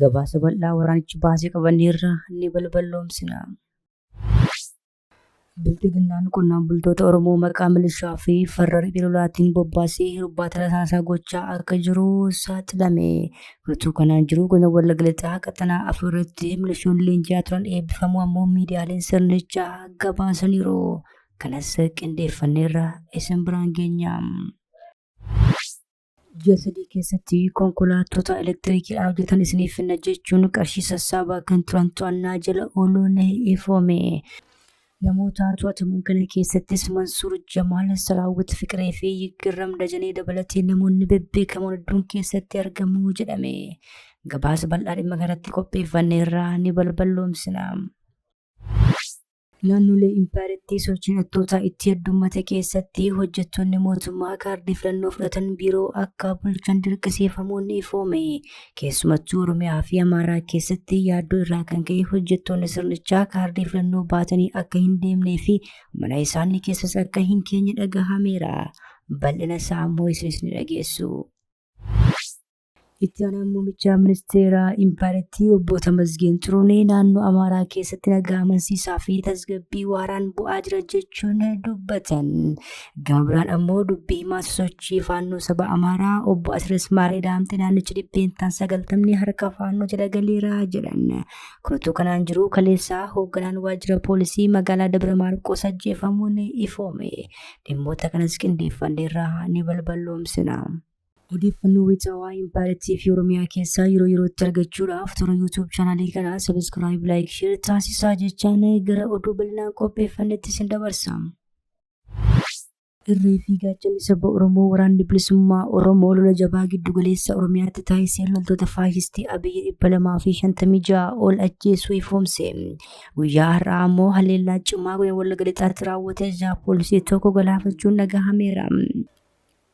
Gabaasa bal'aa waraanichi baase qabanneerra ni balballoomsina. Bilxiginnaan qonnaan bultoota Oromoo maqaa milishaa fi farra riphee lolaatiin bobbaasee hirbaata rasaasaa gochaa akka jiru saaxilame. Utuu kanaan jiruu godina Wallagga Lixaa qaxanaa afur irratti milishoonni leenji'aa turan eebbifamuu ammoo miidiyaaleen sirnichaa gabaasaniiru. Kanas qindeeffanneerra isin biraan geenya. Ji'a sadii keessatti konkolaattota elektirikiidhaan hojjetan isiniif finna jechuun qarshii sassaabaa kan turan to'annaa jala ooluun ifoome. Namoota to'ataman kana keessattis Mansuur Jamaal, Saraawwit Fiqiree fi Yiggarram Dajanee dabalatee namoonni bebbeekamoon hedduun keessatti argamu jedhame. Gabaasa bal'aa dhimma kanarratti qopheeffanneerraa ni balballoomsina. Naannolee impaayerattii sochiin hattootaa itti heddummate keessatti hojjettoonni mootummaa kaardii filannoo fudhatan biiroo akka bulchan dirqisiifamuun ni ifoome. Keessumattuu Oromiyaa fi Amaaraa keessatti yaaddoo irraa kan ka'e hojjettoonni sirnichaa kaardii filannoo baatanii akka hin deemnee fi mana isaanii keessas akka hin keenye dhagahameera. Bal'ina isaa ammoo isinis ni dhageessu. Itti aanaan muummicha ministeeraa impaayerattii obbo Tamasgeen Xurunee naannoo Amaaraa keessatti nagaa amansiisaa fi tasgabbii waaraan bu'aa jira jechuun dubbatan. Gama biraan ammoo dubbii himaa sosochii faannoo saba Amaaraa obbo Asiras Maaree Daamxee naannichi dhibbeentaan sagaltamni harka faannoo jala galeera jedhan. Kun utuu kanaan jiruu kaleessaa hoogganaan waajjira poolisii magaalaa Dabra Maarqoos ajjeefamuun ifoome. Dhimmoota kanas qindeeffanneerraa ni balballoomsina. Odeeffannoo wayita waa'ee Empire TV Oromiyaa keessaa yeroo yerootti argachuudhaaf toora YouTube chaanaalii kanaa subscribe, like, share taasisaa jechaan gara oduu bal'inaan qopheeffannetti isin dabarsa. Irree fi gaachanni saba Oromoo waraanni bilisummaa Oromoo lola jabaa giddu galeessa Oromiyaatti taasiseen loltoota faashistii Abiyyi 256 ol ajjeesuu ifoomse. Guyyaa har'aa ammoo haleellaa cimaa godina Wallagga Lixaatti raawwate jaha poolisii tokko galaafachuun dhagahameera.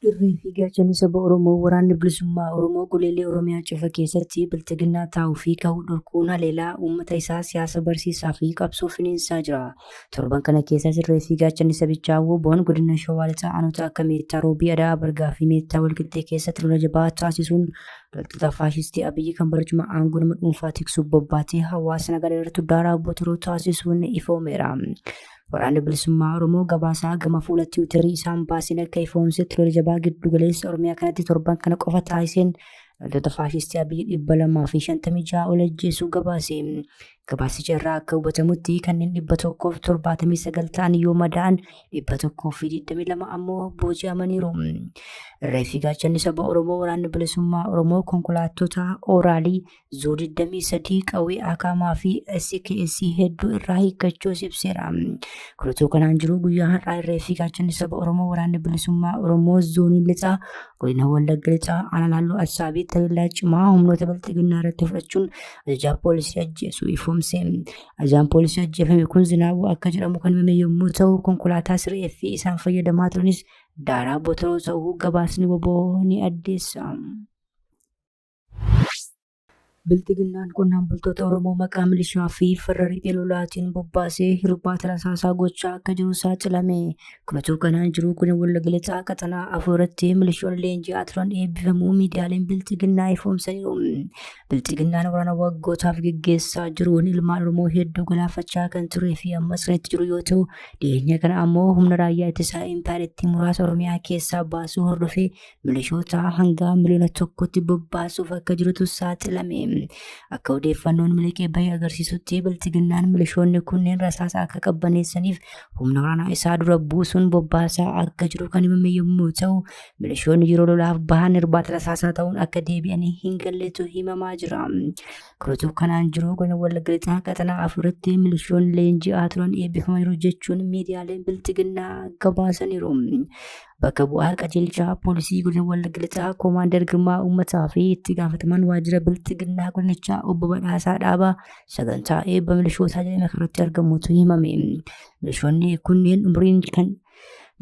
Irree fi gaachanni saba Oromoo Waraanni Bilisummaa Oromoo goleelee Oromiyaa cufa keessatti Bilxiginnaa taa'uu fi kahuu dhorkuun haleelaa uummata isaa siyaasa barsiisaa fi qabsoo finiinsaa jira. Torban kana keessas irree fi gaachanni sabichaa wbon Godina Shawaa Lixaa Aanoota akka Meettaa Roobii, Ada'aa Bargaa fi Meettaa Walqixxee keessatti lola jabaa taasisuun loltoota faashistii Abiyyi kan barcuma aangoo nama dhuunfaa tiksuuf bobbaatee hawaasa nagaa daraartu daaraa botoroo taasisuun ifoomeera. Waraanni bilisummaa Oromoo gabaasaa gama fuula tiwiitarii isaan baaseen akka ifoomsetti lola jabaa giddu galeessa Oromiyaa kanatti torban kana qofa taasiseen loltoota faashistii Abiy dhibba lamaa fi shantamii ja'a ol ajjeesuu gabaase. Gabaasicha irraa akka hubatamutti kanneen dhibba tokkoof torbaatamii sagal ta'an yoo madaa'an dhibba tokkoo fi digdamii lama ammoo booji'amaniiru. Reeffi gaachanni saba Oromoo waraanni bilisummaa Oromoo konkolaattota ooraalii Zoo 23 qawwee Akaamaa fi SKS hedduu irraa hiikkachuus ibseera. Kun utuu kanaan jiruu guyyaa har'aa irree fi gaachanni saba Oromoo waraanni bilisummaa Oromoo zoonii lixaa godina Wallagga lixaa aanaa naannoo Assaabii taleellaa cimaa humnoota bilxiginnaa irratti fudhachuun ajajaa poolisii ajjeesuu ifoomse. Ajajaan poolisii ajjeefame kun Zinaabuu akka jedhamu kan himame yommuu ta'u konkolaataa siree fi isaan fayyadamaa turanis daaraa botoroo ta'uu gabaasni waboo ni addeessa. Bilxiginnaan qonnaan bultoota Oromoo maqaa milishaa fi farra riphee lolaatiin bobbaasee hirbaata rasaasaa gochaa akka jiru saaxilame. Kunatuu kanaan jiruu kun Wallagga Lixaa qaxanaa afuuratti milishoonni leenji'aa turan eebbifamuu miidiyaaleen Bilxiginnaa ifoomsaniiru. Bilxiginnaan waraana waggootaaf geggeessaa jiruun ilmaan Oromoo hedduu galaafachaa kan turee fi ammas kan itti jiru yoo ta'u, dhiyeenya kana ammoo humna raayyaa ittisaa impaayerattii muraasa Oromiyaa keessaa baasuu hordofee milishoota hanga miliyoona tokkotti bobbaasuuf akka jirutu saaxilame. Akka odeeffannoon miliqee bahee agarsiisutti biltiginnaan milishoonni kunneen rasaasa akka qabbaneessaniif humna waraanaa isaa dura buusuun bobbaasaa akka jiru kan himame yommuu ta'u, milishoonni yeroo lolaaf bahan irbaata rasaasaa ta'uun akka deebi'anii hin galletu himamaa jira. Kunutuu kanaan jiru godina Wallagga Lixaa qaxanaa afuritti milishoonni leenji'aa turan eebbifamaniiru jechuun miidiyaaleen biltiginnaa gabaasaniiru. Bakka bu'aa qajeelchaa poolisii godina Wallagga Lixaa Koomaandar Girmaa Uummataa fi itti gaafatamaan waajjira bilxiginnaa godinichaa obbo Badhaasaa Dhaabaa sagantaa eebba milishootaa jedhame irratti argamuutu himame. Milishoonni kunneen umuriin kan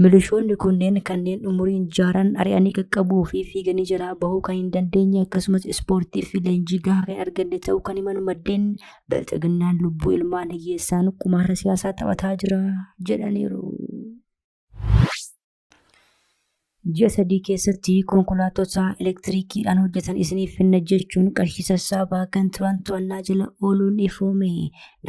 Milishoonni kunneen kanneen umuriin jaaran ari'anii qaqqabuu fi fiiganii jalaa bahuu kan hin dandeenye akkasumas ispoortii fi leenjii gahaa kan arganne ta'uu kan himan maddeen bilxiginnaan lubbuu ilmaan hiyyeessaan qumaara siyaasaa taphataa jira jedhaniiru. Ji'a sadii keessatti konkolaattota elektiriikiidhaan hojjetan isiniif finna jechuun qarshii sassaabaa kan turan to'annaa jala ooluun ifoome.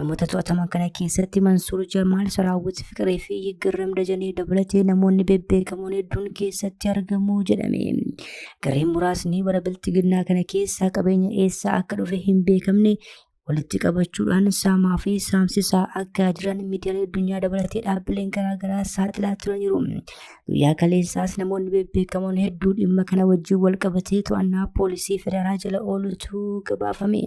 Namoota to'ataman kana keessatti Mansuur Jamaal, Saraawwit Fiqiree fi Yiggarram Dajanee dabalatee namoonni bebbeekamoon hedduun keessatti argamu jedhame. Gareen muraasni bara bilxiginnaa kana keessaa qabeenya eessaa akka dhufe hin beekamne walitti qabachuudhaan saamaa fi saamsisaa akka jiran miidiyaalee addunyaa dabalatee dhaabbileen garaagaraa saaxilaa turaniiru. Guyyaa kaleessaas namoonni bebbeekamoon hedduu dhimma kana wajjin wal qabatee to'annaa poolisii federaalaa jala oolutu gabaafame.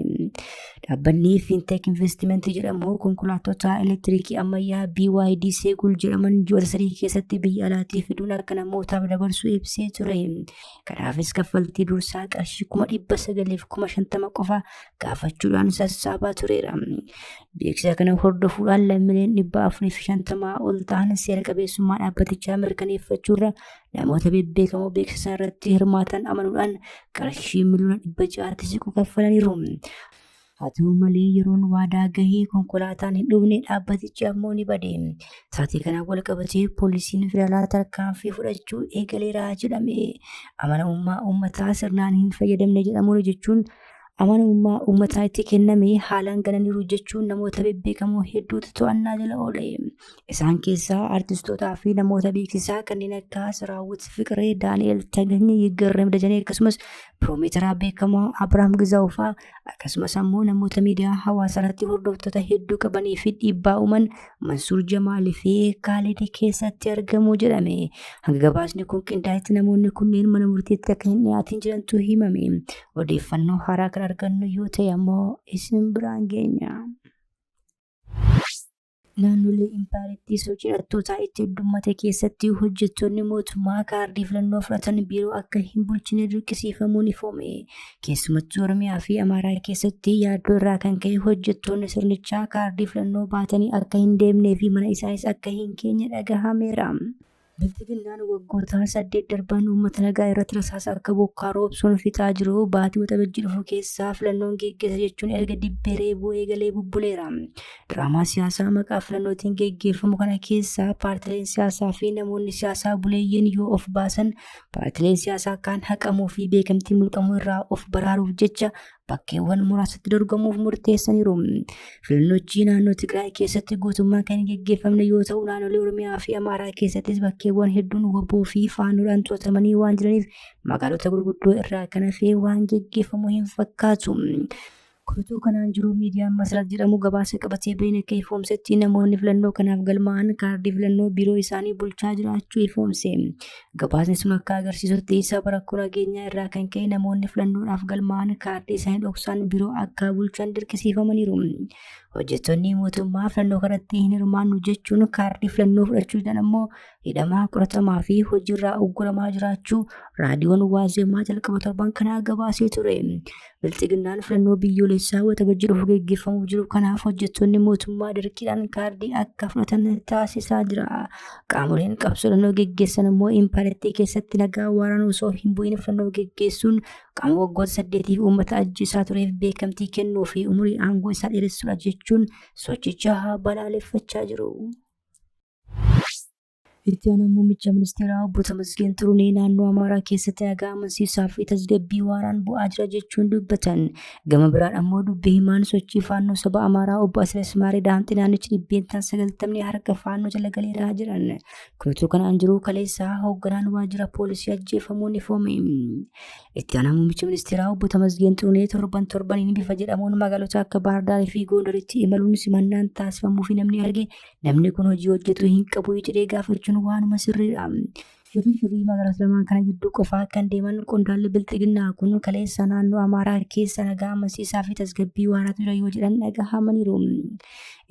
Dhaabbanni Fintech Investment jedhamu konkolaattota elektiriikii ammayyaa BYD Seegul jedhaman ji'oota sadii keessatti biyya alaatii fiduun akka namootaaf dabarsu ibsee ture. Kanaafis kaffaltii dursaa qarshii kuma dhibba sagaliif kuma shantama qofa gaafachuudhaan sassaabaa tureera. Beeksisa kana hordofuudhaan lammiileen dhibba afurii fi shantamaa ol ta'an seera qabeessummaa dhaabbatichaa mirkaneeffachuurra namoota bebbeekamoo beeksisa irratti hirmaatan amanuudhaan qarshii miliyoona dhibba ja'aatti siqu kaffalaniiru. Haa ta'u malee yeroon waadaa gahee konkolaataan hin dhufne dhaabbatichi ammoo ni bade. Taatee kanaan wal qabatee poolisiin federaalaa tarkaanfii fudhachuu eegaleera jedhame. Amanamummaa uummataa sirnaan hin fayyadamne jedhamuun jechuun amanamummaa uummataa itti kenname haalaan gananiiru jechuun namoota bebbeekamoo hedduutu to'annaa jala oole. Isaan keessaa artistootaa fi namoota beeksisaa kanneen akka Siraawwit Fiqiree, Daani'el Tagany, Yiggarrem Dajanee akkasumas piroomeetaraa beekamaa Abiraam Gizaawuu fa'aa akkasumas ammoo namoota miidiyaa hawaasa irratti hordoftoota hedduu qabanii fi dhiibbaa uuman Mansuur Jamaal fi Kaalid keessatti argamu jedhame. Hanga gabaasni kun qindaa'etti namoonni kunneen mana murtiitti akka hin dhiyaatiin jirantu himame. Odeeffannoo haaraa kan argannu yoo ta'e ammoo isin biraan geenya. Naannolee impaayerattii sochii hidhattootaa itti heddummate keessatti hojjettoonni mootummaa kaardii filannoo fudhatan biiroo akka hin bulchine dirqisiifamuun ifoome. Keessumattuu Oromiyaa fi Amaaraa keessatti yaaddoo irraa kan ka'e hojjettoonni sirnichaa kaardii filannoo baatanii akka hin deemnee fi mana isaanis akka hin geenye dhagahameera. Bilxiginnaan waggoota saddeet darban uummata nagaa irratti rasaasa akka bokkaa roobsuun fixaa jiru baatii Waxabajjii dhufu keessa filannoon geggeessa jechuun erga dibbee reebuu eegalee bubbuleera. Diraamaa siyaasaa maqaa filannootiin geggeeffamu kana keessa paartileen siyaasaa fi namoonni siyaasaa buleeyyiin yoo of baasan paartileen siyaasaa kaan haqamuu fi beekamtii mulqamuu irraa of baraaruuf jecha bakkeewwan muraasatti dorgomuuf murteessaniiru. Filannochi naannoo Tigraay keessatti guutummaan kan hin geggeeffamne yoo ta'u naannolee Oromiyaa fi Amaaraa keessattis bakkeewwan hedduun waboo fi faanoodhaan to'atamanii waan jiraniif magaalota gurguddoo irraa kan hafee waan geggeeffamu hin fakkaatu. Kutuu kanaan jiru miidiyaan Masrat jedhamu gabaasa qabatee bahin akka ifoomsetti namoonni filannoo kanaaf galmaa'an kaardii filannoo biiroo isaanii bulchaa jiraachuu ifoomse. Gabaasni sun akka agarsiisutti sababa rakkoo nageenyaa irraa kan ka'e namoonni filannoodhaaf galmaa'an kaardii isaanii dhoksaan biroo akka bulchan dirqisiifamaniiru. Hojjettoonni mootummaa filannoo kanatti hin hirmaannu jechuun kaardii filannoo fudhachuu dhaan ammoo hidhamaa qoratamaa fi hojiirraa ugguramaa jiraachuu raadiyoon waazeemaa jalqaba torban kanaa gabaasee ture. Bilxiginnaan filannoo biyyoolessaa waxabajjii dhufu geggeeffamuuf jiru kanaaf hojjettoonni mootummaa dirqiidhaan kaardii akka fudhatan taasisaa jira. Qaamoleen qabsoo filannoo geggeessan immoo impaayiratii keessatti nagaa waaraan osoo hin bu'iin filannoo geggeessuun qaama waggoota saddeetiif uummata ajjeesaa tureef beekamtii kennuu fi umurii aangoo isaa dheeressuudha jechuun sochicha balaaleffachaa jiru. Itti aanaan muummicha ministeeraa obbo Tamasgeen Xurunee naannoo Amaaraa keessatti nagaa amansiisaa fi tasgabbii waaraan bu'aa jira jechuun dubbatan. Gama biraan ammoo dubbi himaan sochii faannoo saba Amaaraa obbo Asiras Maaree Daamxi naannichi dhibbeentaan sagaltamni harka faannoo jala galeeraa jiran. Kutuu kanaan jiruu kaleessaa hoogganaan waajjira poolisii ajjeefamuu ni foome. Itti aanaan muummicha ministeeraa obbo Tamasgeen Xurunee torban torbaniin bifa jedhamuun magaalota akka Baahardaarii fi Goondaritti imaluun simannaan taasifamuu fi namni arge Namni kun hojii hojjetu hin qabu jedhee gaafachuun waanuma sirriidha. Shifii shifii magaalota lamaan kana gidduu qofaa kan deeman qondaalli bilxiginnaa kun kaleessa naannoo Amaaraa keessa nagaa amansiisaa fi tasgabbii waaraa ture yoo jedhan dhagahamaniiru.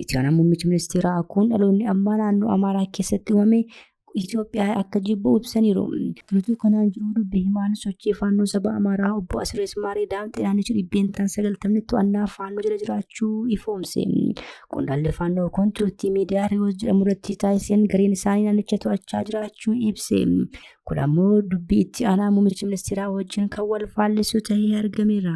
Itiyaan muummichi ministeeraa kun dhaloonni ammaa naannoo Amaaraa keessatti uumame Itoophiyaa akka jibbu ibsaniiru. Utuu kanaan jiruu dubbi himaan sochii faannoo saba Amaaraa obbo Asirees Maaree Daamxee naannichi dhibbeentaan sagaltamni to'annaa faannoo jala jiraachuu ifoomse. Qondaalli faannoo kun turtii miidiyaa Riyoos jedhamu irratti taasiseen gareen isaanii naannicha to'achaa jiraachuu ibse. Kun ammoo dubbii itti aanaa muummicha ministeeraa wajjin kan wal faallisu ta'ee argameera.